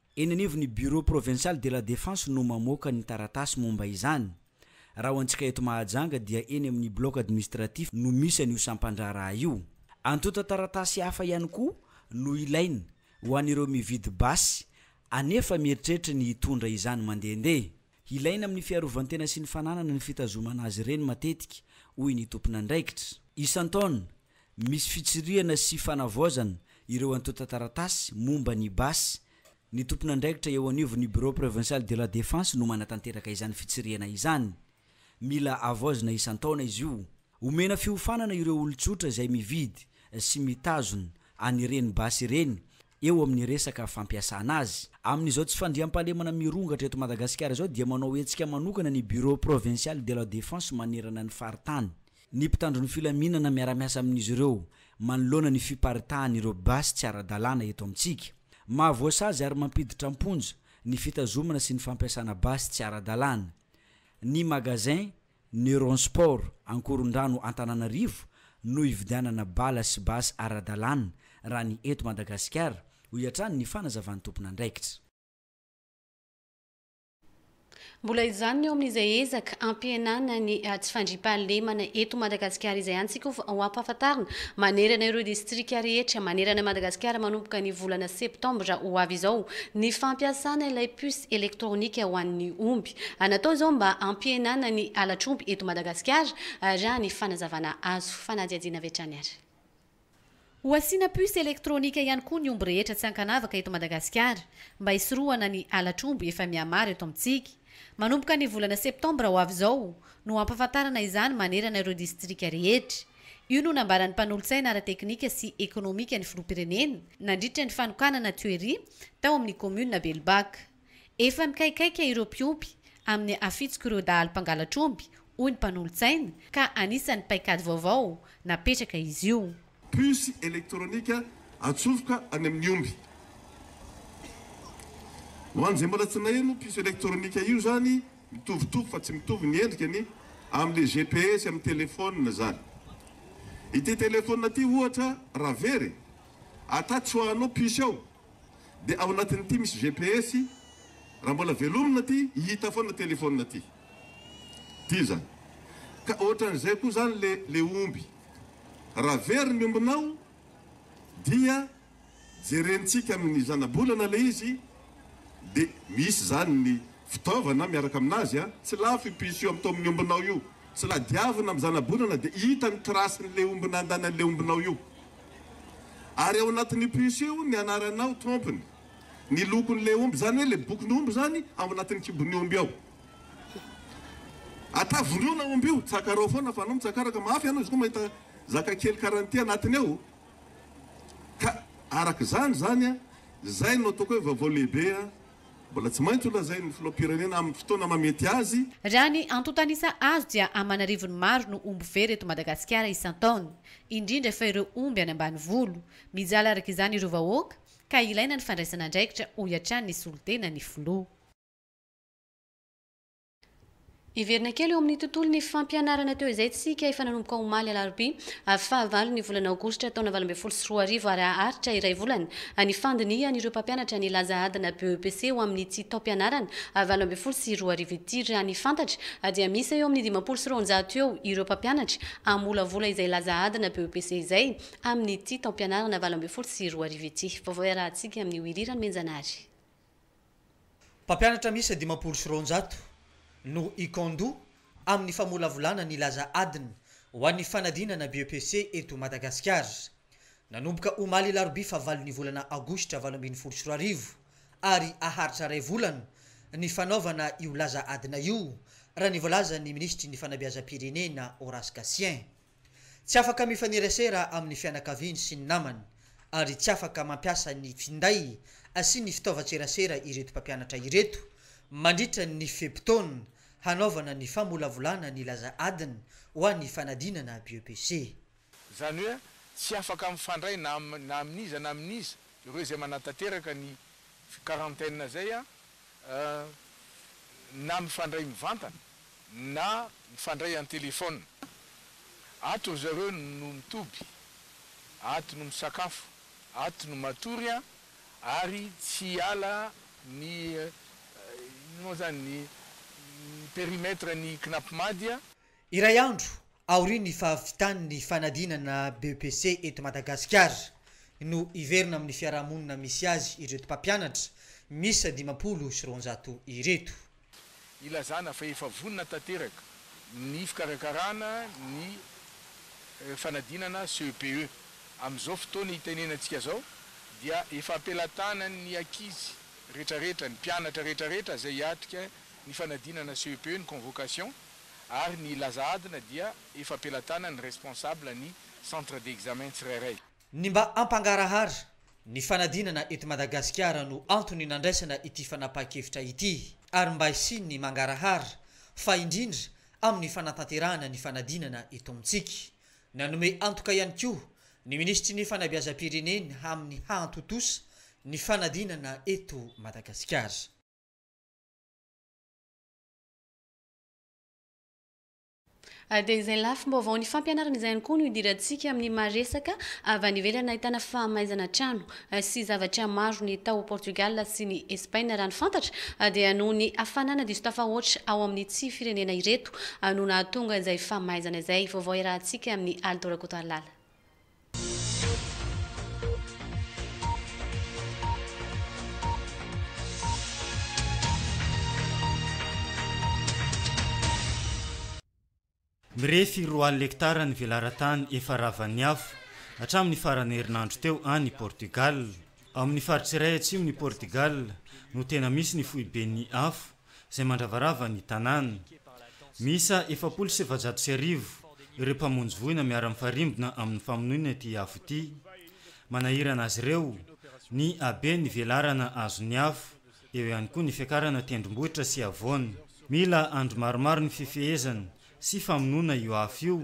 Eny anivon'ny Bureau Provincial de la Défense no mamoaka ny taratasy momba izany. Raha ho antsika eto Mahajanga dia eny amin'ny Bloc Administratif no misy an'io sampan-draharaha io. Antontan-taratasy hafa ihany koa no ilaina ho an'ireo mividy basy anefa mieritreritra ny hitondra izany mandehandeha. Hilaina amin'ny fiarovan-tena sy ny fananana ny fitazomana azy ireny matetika, hoy ny tompon'andraikitra. Isan-taona, Misy fitsirihana sy fanavaozana ireo antontan-taratasy momba ny basy. Ny tompon'andraikitra eo anivon'ny Bureau Provincial de la Défense no manatanteraka izany fitsirihana izany. Mila avaozina isan-taona izy io. Omena fiofanana ireo olon-tsotra izay mividy sy mitazona an'ireny basy ireny eo amin'ny resaka fampiasana azy. Amin'izao tsy fandriampahalemana mirongatra eto Madagasikara izao dia manao hetsika manokana ny Bureau Provincial de la Défense manerana ny faritany Ny mpitandro ny filaminana miara-miasa amin'izy ireo manoloana ny fiparitahan'ireo basy tsy ara-dalàna eto amintsika. Mahavoasazy ary mampiditra am-ponja ny fitazomana sy ny fampiasana basy tsy ara-dalàna. Ny Magasin Neuron Sport Ankorondrano Antananarivo no ividianana bala sy basy ara-dalàna raha ny eto Madagasikara, hoy hatrany ny fanazavan'ny tompon'andraikitra. Mbola izany ny eo amin'izay ezaka hampihenana ny tsy fandriampahalemana eto Madagasikara izay hany tsika ho ampahafantarina manerana ireo distrika rehetra manerana Madagasikara manomboka ny volana septambra ho avy izao ny fampiasana ilay puce elektronika ho an'ny omby natao izao mba hampihenana ny halatr'omby eto Madagasikara raha ny fanazavana azo fanadihadiana avy hatrany ary Ho asiana puce elektronika ihany koa ny omby rehetra tsy ankanavaka eto Madagasikara mba hisorohana ny halatr'omby efa mihamaro eto amintsika. Manomboka ny volana septambra ho avy izao no hampafantarana izany manerana ireo distrika rehetra. Io no nambaran'ny mpanolotsaina ara-teknika sy ekonomika ny filoham-pirenena nandritra ny fanokanana toeria tao amin'ny kaominina Belobac. Efa nikaikaika ireo mpiompy amin'ny hafitsik'ireo dahalo mpangalatr'omby, hoy ny mpanolotsaina, ka anisan'ny paikady vaovao napetraka izy io. Puce elektronika atsofoka any amin'ny omby. Ho an'izay mbola tsy naheno io puce elektronika io izany, mitovitovy fa tsy mitovy ny endrikany amin'ilay GPS amin'ny telefaonina izany. Ity telefaonina ity ohatra raha very, atatsy ho anao puce ao. dia ao anatin'ity misy GPS raha mbola velomina ty hita foana telephone ty ty zany ka ohatran'izay koa zany le le omby raha very ny ombinao dia jerentsika amin'ny zanabolana le izy de misy zany ny fitaovana miaraka aminazy a tsy lafo i piso io amin'to amin'ny ombinao io tsy ladiavina amin'ny zanabolana de hita ny trace-n'le omby nandany an'le ombinao io Ary ao anatin'io puce io ny anaranao, trompiny, ny lokon'ilay omby, izany hoe ilay bokin'omby izany ao anatin'ny kibon'ny omby ao. Ata voriona omby io, tsakarao foana fa anao mitsakaraka, mafy ianao izy koa mahita zaka kely karaha an'ity anatiny ao. Ka araka izany izany an, izay no ataoko hoe vaovao lehibe an. Mbola tsy maintsy ho lazain'ny filoham-pirenena amin'ny fotoana mahamety azy. Raha ny antontan'isa azo dia aman'arivony maro no omby very eto Madagasikara isan-taona, indrindra fa ireo omby any ambanivolo. Mijaly araka izany ireo vahoaka ka ilaina ny fandraisana andraikitra, hoy hatrany ny solontenan'ny filoha. Hiverina kely eo amin'ny tontolon'ny fampianarana teo izay isika efa nanomboka omaly alarobia fahavalon'ny volana aogositra taona valo ambin'ny folo sy roa arivo ary haharitra iray volana ny fandinihan'ireo mpampianatra ny laza adina BEPC ho amin'ity taom-pianarana valo ambin'ny folo sy roa arivo ity. Raha ny fantatra dia miisa eo amin'ny dimampolo sy roanjato eo ireo mpampianatra hamolavola izay laza adina BEPC izay amin'ity taom-pianarana valo ambin'ny folo sy roa arivo ity. Vaovao iarahantsika amin'i Willy Ranomenjanary. Mpampianatra miisa dimampolo sy roanjato no hikandò amin'ny famolavolana ny laza adina ho an'ny fanadinana BEPC eto Madagasikara. Nanomboka omaly alarobia fahavalon'ny volana aogositra valo ambin'ny folo sy roa arivo ary haharitra iray volana ny fanaovana io laza adina io, raha ny voalazan'ny minisitry ny fanabeazam-pirenena Horace Gatien. Tsy afaka mifanerasera amin'ny fianakaviany sy ny namany ary tsy afaka mampiasa ny finday sy ny fitaovan-tserasera ireto mpampianatra ireto mandritra ny fe-potoana hanaovana ny famolavolana ny laza adiny ho an'ny fanadinana BEPC. Izany hoe tsy afaka mifandray na amin'iza na amin'iza ireo izay manatanteraka ny quarantaine izay na mifandray mivantana na mifandray an-telefaona. Ato ry zareo no mitoby, ato no misakafo, ato no matory an, ary tsy hiala ny, inona moa izany, ny périmètre ny Knapmadi an. Iray andro aorian'ny fahavitan'ny fanadinana BEPC eto Madagasikara no hiverina amin'ny fiarahamonina misy azy ireto mpampianatra miisa dimampolo sy roanjato ireto. Ilazana fa efa vonona tanteraka ny fikarakarana ny fanadinana CEPE. Amin'izao fotoana hitenenantsika izao dia efa ampelatanan'ny ankizy rehetrarehetra, ny mpianatra rehetrarehetra izay hiatrika ny fanadinana CEPE ny convocation. ary ny laza adina dia efa am-pelatanan'ny responsable ny centre d'examen tsirairay. Ny mba hampangarahara ny fanadinana eto Madagasikara no antony nandraisana ity fanapahan-kevitra ity ary mba hisian'ny mangarahara fa indrindra amin'ny fanatanterahana ny fanadinana eto amintsika. Nanome antoka ihany koa ny minisitry ny fanabeazam-pirenena amin'ny hahantontosa ny fanadinana eto Madagasikara. Dia izay lafim-baovao ny fampianarana izay ihany koa no idirantsika amin'ny maha resaka avy any ivelany nahitana fahamaizana trano sy zavatra maro ny tao Portugal sy ny Espaina raha ny fantatra dia noho ny hafanana diso tafahoatra ao amin'ny tsy firenena ireto no nahatonga izay famaizana izay. Vaovao iarahantsika amin'ny Aldo Rakotoarilala. Mirefy roa alina hektara ny velaran-tany efa ravan'ny afo, hatramin'ny faran'ny herinandro teo, any Portugal. Ao amin'ny faritra iray atsimon'i Portugal no tena misy ny foiben'ny afo, izay mandravarava ny tanàna. Miisa efapolo sy efajato sy arivo ireo mpamonjy voina miara-mifarimbona amin'ny famonoana ity afo ity. Manahirana azy ireo ny habe ny velarana azon'ny afo, eo ihany koa ny fiakarana tendrombohitra sy havoana. Mila andro maromaro ny fifehezana sy famonoana io afo io,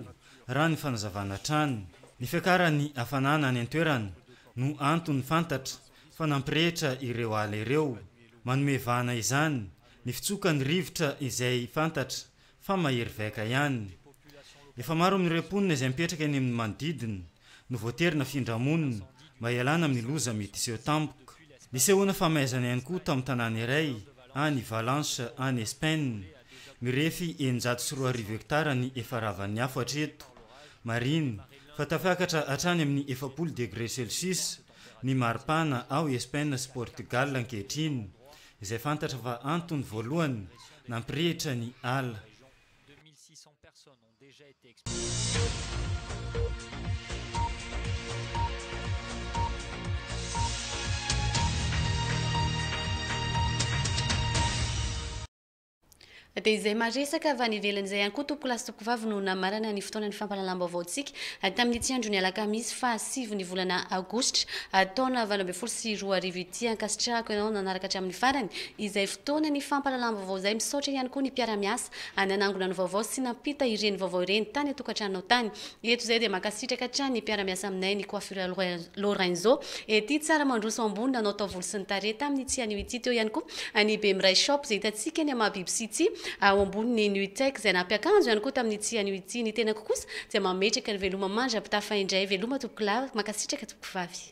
raha ny fanazavana hatrany. Ny fiakaran'ny hafanana any an-toerana no antony fantatra fa nampirehitra ireo ala ireo. Manome vahana izany ny fitsoka ny rivotra izay fantatra fa mahery vaika ihany. Efa maro amin'ireo mponina izay mipetraka eny amin'ny manodidina no voatery nafindra monina mba hialana amin'ny loza mety hiseho tampoka. Nisehoana famaizana ihany koa tamin'ny tanàna iray any Valence any Espaina. Mirefy eninjato sy roa arivo hektara ny efa ravan'ny afo hatreto. Marihina fa tafiakatra hatrany amin'ny efapolo degre celsius ny maripana ao Espaina sy Portugal ankehitriny, izay fantatra fa antony voalohany nampirehitra ny ala. Dia izay maresaka avy any ivelany izay ihany koa tompokolahy sy tompokovavy no namarana ny fotoanan'ny fampahalalam-baovaontsika tamin'ny tsy andron'ny alakamisy faha sivy ny volana aogositra taona valo ambin'ny folo sy roa arivo ity. Ankasitrahako ianao nanaraka hatramin'ny farany izay fotoanan'ny fampahalalam-baovao izay. Misaotra ihany koa ny mpiara-miasa nanangona ny vaovao sy nampita ireny vaovao ireny tany an-tokantranonao tany. Eto izay dia mankasitraka hatrany ny mpiara-miasa aminay ny Coiffure Lorenzo ety tsara mandroso ambony nanao taovolo sy ny tarehy tamin'ny tsy anio ity teo ihany koa ny Bemiray shop izay hitantsika ny Amabiby City ao ambonin'ny Nutec izay nampiakanjo ihany koa tamin'ny tsy anio ity ny tenako kosa dia mametraka ny veloma mandra-pitafa indray veloma tompokolahy mankasitraka tompokovavy